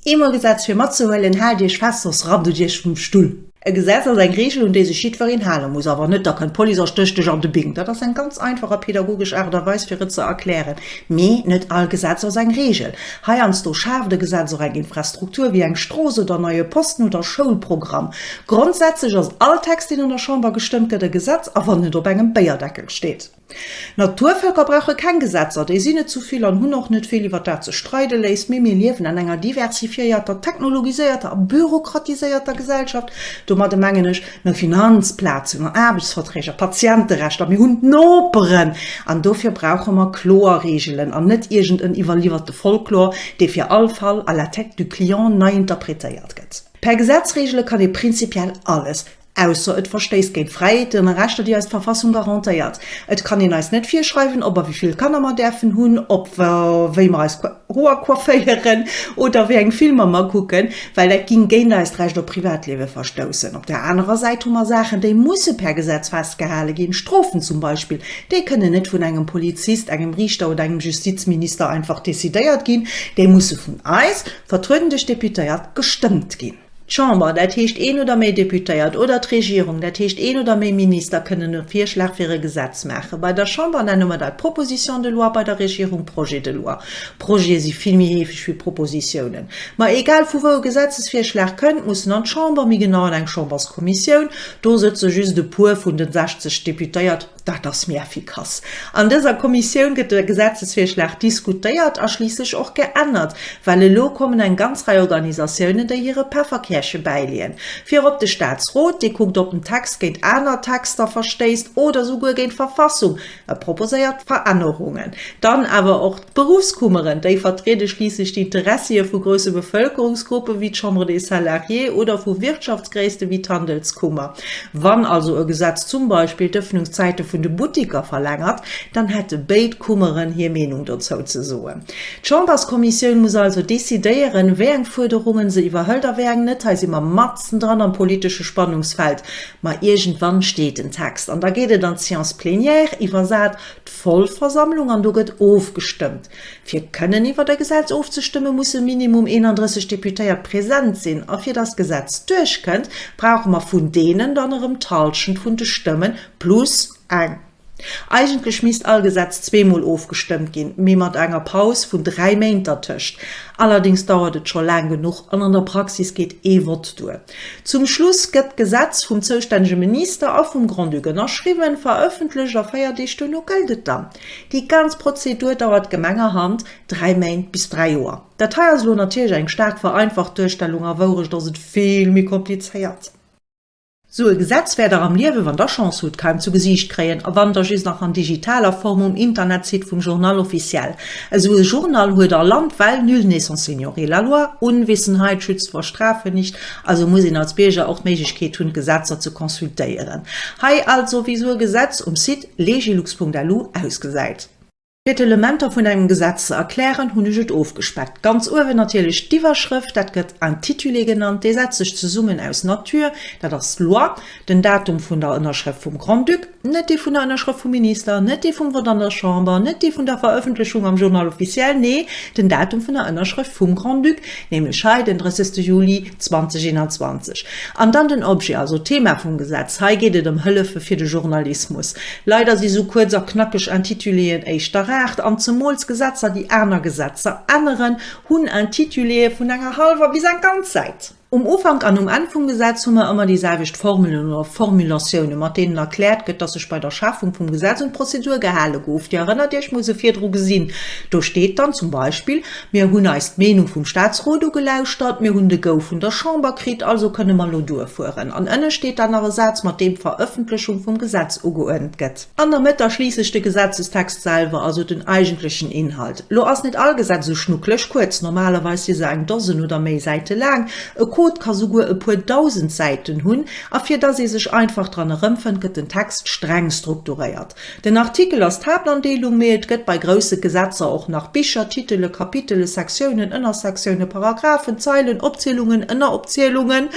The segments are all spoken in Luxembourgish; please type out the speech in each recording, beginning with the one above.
Eemol gesetzt fir matzehuelen, haalt iech fest, soss rappt et iech vum Stull. E Gesetz ass eng Reegel un déi sech jiddwereen hale muss, awer net, da kënnt d'Police a stécht dech an de Bing. Dat ass eng ganz einfach a pedagogesch Aart a Weis fir et ze erklären. Mee net all Gesetz ass eng Reegel. Heiansdo schaaft e Gesetz och eng Infrastruktur, wéi eng Strooss oder en neie Posten oder Schoulprogramm. Grondsätzlech ass all Text, deen an der Chamber gestëmmt gëtt, e Gesetz, a wann net op engem Béierdeckel. steet. D'Naturvölker brauche keng Gesetzer, déi sinn net zu vill an hunn och net vill iwwer dat ze streide léisst, mee mir liewen an enger diversifiéierter, technologiséierter a bürokratiséierter Gesellschaft. Domadde mengen ech no Finanzplazen, no Aarbechtsverträg a Patienterechter. Mir hunn d'Noperen an dofir brauche mer kloer Reegelen an net iergend en iwwerliwwerte Folklor, dee fir all Fall à la tête du client nei interpretéiert gëtt. Per Gesetz reegele kann ee prinzipiell alles, Ausser et verstéisst géint d'Fräiheeten a Rechter, déi eis d'Verfassung garantéiert. Et kann een eis net virschreiwen, ob a wéi vill Kanner mer däerfen hunn, ob a wéi mer eis Hoer coifféieren oder wéi eng Filmer mer kucken, well dat géing géint eist Recht op Privatliewe verstoussen. Op der anerer Säit hu mer Saachen, déi musse per Gesetz festgehale ginn, Strofen zum Beispill. Déi kënnen net vun engem Polizist, engem Riichter oder engem Justizminister einfach decidéiert ginn, déi musse vun eis, vertrueden duerch d'Deputéiert, gestëmmt ginn. D'Chamber, dat heescht een oder méi Deputéiert, oder d'Regierung, dat heescht een oder méi Minister, kënnen e Virschlag fir e Gesetz maachen. Bei der Chamber nenne mer dat Proposition de loi, bei der Regierung Projet de loi. Projete si vill méi heefeg wéi Propositiounen. Mä egal vu wou e Gesetzesvirschlag kënnt, muss en an d'Chamber, méi genau an eng Chamberskommissioun. Do sëtze just e puer vun de 60 Deputéiert. Dat ass méi effikass. An dëser Kommissioun gëtt de Gesetzesvirschlag diskutéiert a schliisslech och geännert, well elo kommen eng ganz Rei Organisatiounen, déi hire Pefferkäerche bäileeën. Virop de Staatsrot, dee kuckt, ob den Text géint aner Texter verstéisst oder souguer géint d'Verfassung, e proposéiert Verännerungen. Dann awer och. D'Beruffskummeren, déi vertriede schliisslech d'Interessie vu grousse Bevëlkerungsgruppen, wéi d'Chambre des Salariés, oder vu Wirtschaftsgréisste wéi d'Handelskummer. Wann also e Gesetz zum Beispill d'Ëffnungszäite vun de Buttiker verlängert, dann hätte béid Kummeren hir Meenung dozou ze soen. D'Chamberskommissioun muss also decidéieren, wéi eng Fuerderungen se iwwerhëlt a wéi eng net. Hei si mer matzendran am politesche Spannungsfeld, ma iergendwann steet den Text an da geet et an d'Séance plénière, iwwersat. Vollversammlung an do gëtt ofgestëmmt. Fir kënnen iwwert e Gesetz ofzestëmmen, musse minimum 31 Deputéiert present sinn a fir datt d'Gesetz duerchkënnt, brauche mer vun deenen dann erëm d'Halschent vun de Stëmmen plus eng. Eigentlech misst all Gesetz zweemol ofgestëmmt ginn, mee mat enger Paus vun dräi Méint dertëscht. Allerdéngs dauert et scho laang genuch an an der Praxis geet ee Vott duer. Zum Schluss gëtt d'Gesetz vum zoustännege Minister a vum Grand-Duc ënnerschriwwen, verëffentlecht a véier Deeg duerno gëllt et dann. Déi ganz Prozedur dauert gemengerhand dräi Méint bis dräi Joer. Dat hei ass elo natierlech eng staark vereinfacht Duerstellung, a Wourecht ass et vill méi komplizéiert. Sou e Gesetz wäert Der am Liewe, wann Der Chance hutt, kaum zu Gesiicht kréien, a wann da just nach an digitaler Form um Internetsite vum Journal officiel. Esou e Journal huet a Land well nul n'est sans ignorer la loi, Unwissenheit schützt vor Strafe nicht, also muss een als Bierger och d'Méiglechkeet hunn d'Gesetzer ze consultéieren. Hei also wéi esou e Gesetz um Site legilux.lu ausgesäit. Fir d'Elementer vun engem Gesetz ze erklären hunn ech et ofgespeckt. Ganz uewen natierlech d'Iwwerschrëft, dat gëtt Intitulé genannt, dee setzt sech zesummen aus Nature, dat ass d'Loi, den Datum vun der Ënnerschrëft vum Grand-Duc, Net dee vun der Ënnerschrëft vum Minister, net dee vum Vott an der Chamber, net dee vun der Verëffentlechung am Journal officiel, nee, den Datum vun der Ënnerschrëft vum Grand-Duc, nämlech hei den 30. Juli 2021. An dann den Objet, also d'Thema vum Gesetz, hei geet et ëm Hëllefe fir de Journalismus. Leider si sou kuerz a knackeg Intituléen éischter Rart, an zemools Gesetzer, déi aner Gesetzer änneren, hunn Intituléë vun enger hallwer bis eng ganz Säit. Um Ufank an um Enn vum Gesetz hu mer ëmmer déi selwecht Formelen oder Formulatiounen, mat deenen erkläert gëtt, dass sech bei der Schafung vum Gesetz un d'Prozedur gehale gouf. Dir erënnert Iech, mir hu se virdru gesinn, do steet dann zum Beispill, Mir hunn eis d'Meenung vum Statsrot ugelauschtert, mir hunn de Go vun der Chamber kritt, also kënne mer elo duerfueren. An ënne steet dann nach e Saz, mat deem d'Verëffentlechung vum Gesetz ugeuernt gëtt. An der Mëtt da schliisslech de Gesetzestext selwer, also den eigentlechen Inhalt. Lo ass net all Gesetz esou schnucklech kuerz, normalerweis si se eng Dosen oder méi Säite laang, e Code ka souguer e puer dausend Säiten hunn, a fir dass ee sech einfach dran erëmfënnt, gëtt den Text streng strukturéiert. Den Artikel ass d'Haaptandeelung, mee et gëtt bei grousse Gesetzer och nach Bicher, Titele, Kapitele, Sektiounen, Ënnersektiounen, Paragraphen, Zeilen, Opzielungen, Ënneropzielungen,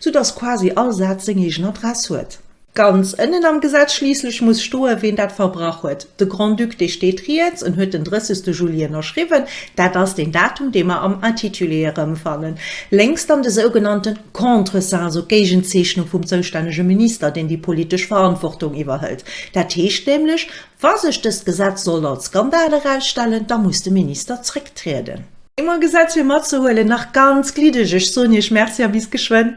soudass quasi all Saz seng eegen Adress huet. Ganz ënnen am Gesetz schliisslech muss stoen, ween dat verbrach huet. De Grand-Duc, dee steet riets, en huet den 30 Juli ënnerschriwwen. Dat ass deen Datum, dee mer am Intitulé erëmfannen. Lénks dann de sougenannte Contresein, esou d'Géigenzeechnung vum zoustännege Minister, deen déi politesch Verantwortung iwwerhëlt. Dat heescht nämlech, Wa sech dëst Gesetz sollt als Skandal erausstellen, da muss de Minister zrécktrieden. Ee Gesetz fir matzehuelen, nach ganz gliddeg. Ech soen Iech Merci a bis geschwënn.